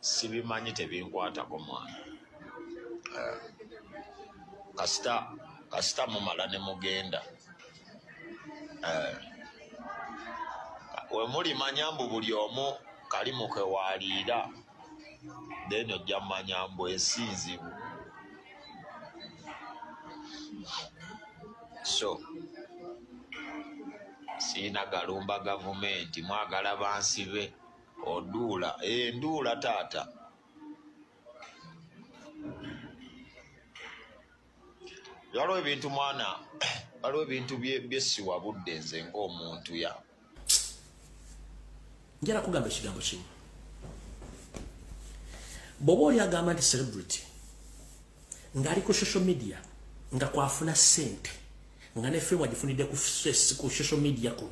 sibimanyi tebinkwatako mwana eh, kasita kasita mumala ne mugenda eh, wemulimanya mbu buli omu kalimu kewaliira then ojja mumanya mbu ensi nzibu so siina galumba gavumenti mwagala bansi be oduula eh, nduula taata waliwo ebintu mwana waliwo ebintu byesiwa budde nze ngaomuntu ya njala kugamba ekigambo kimu bwoba oli agamba nti celebrity ngali ku social media nga kwafuna sente nga ne fame ajifunide ku stress ku social media ko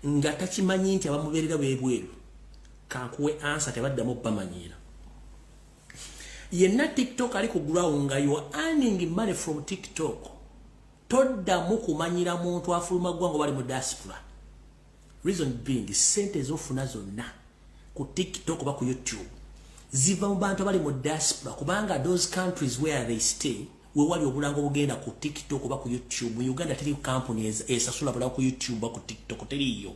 nga takimanyi nti abamuberera bebweru kankuwe ansa tebaddamu bamanyira yenna tiktok ali ku ground nga you are earning money from tiktok toddamu kumanyira muntu afuluma ggwanga bali mu diaspora reason being sente ezofuna zonna ku tiktok oba ku youtube ziva mu bantu abali mu diaspora kubanga those countries where they stay wewali obulango bugenda ku tiktok oba ku youtube mu uganda teri kampuni esasula bula ku youtube oba ku tiktok teriiyo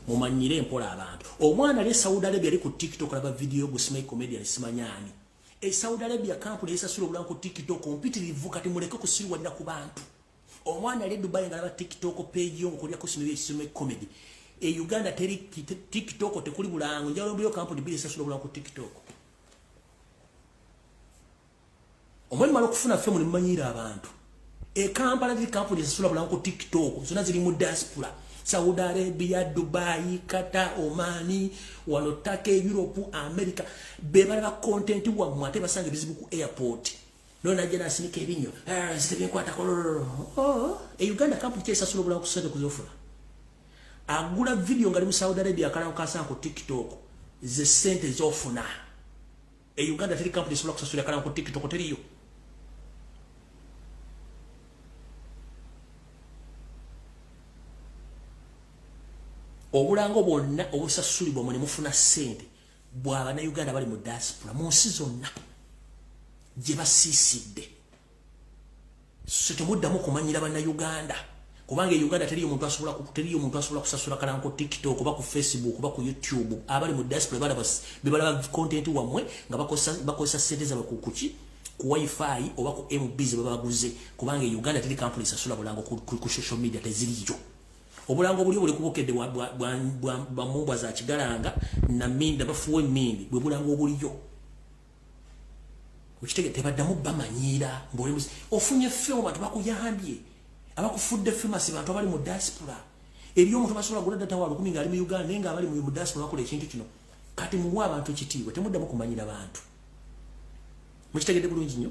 mumanyire mpola abantu omwana ali esaudi arabia ali ku tiktok alaba vidiyo gusima comedian simanyani esaudi arabia kampuni esasula obulango ku tiktok mpitirivu kati muleke kusiriwalira ku bantu omwana ali dubai nga laba tiktok page yo nkolya ku sino yesimu e comedy e uganda teri tiktok tekuli bulango njalo mbiyo kampuni bili sasa bulango ku tiktok omwe malo kufuna fe muli manyira abantu e kampala teri kampuni sasa bulango ku tiktok zona zili mu diaspora saudi arabia dubai kata omani wano take europe america bebala ba content wa mwate basanga bizibu ku airport nona jana asinika ebinyo eh, nzite binkwata kolololo oh, e Uganda kapu kye sasula bula kusende kuzofula agula video ngali mu Saudi Arabia kala kasa ku TikTok ze sente zofuna e Uganda tiri kapu sula kusasula kala ku TikTok tiri yo obulango bwonna obusasulibwa mwe ne mufuna sente bwa bannayuganda bali mu diaspora mu nsi zonna gye basiisidde so temuddamu kumanyira bannayuganda kubanga e uganda teriyo omuntu asobola teriyo omuntu asobola kusasula kalanko tiktok oba ku facebook oba ku youtube abali mu diaspora balaba bebalaba content wammwe nga bakozesa sente zabwe ku kuki ku wifi oba ku mb ze baba baguze kubanga e uganda teri kampuni esasula bulango ku social media teziriyo obulango obulyo buli kubukedde bamumbwa za kigalanga naminda bafuwa emindi bwe bulango obulyo okitege tebaddamu bamanyiira ngaoli ofunye femu bantu bakuyambye abakufudde femasi bantu abali mu diaspora eri omuntu basobola gula data wa lukumi ngaali mu uganda naye nga abali mu diaspora bakola ekintu kino kati muwa abantu kitiibwa temuddamu kumanyira bantu mukitegedde bulungi nnyo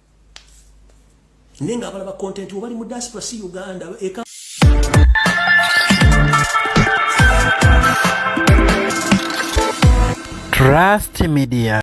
naye nga abalaba content obali mu diaspora si uganda eka Trust Media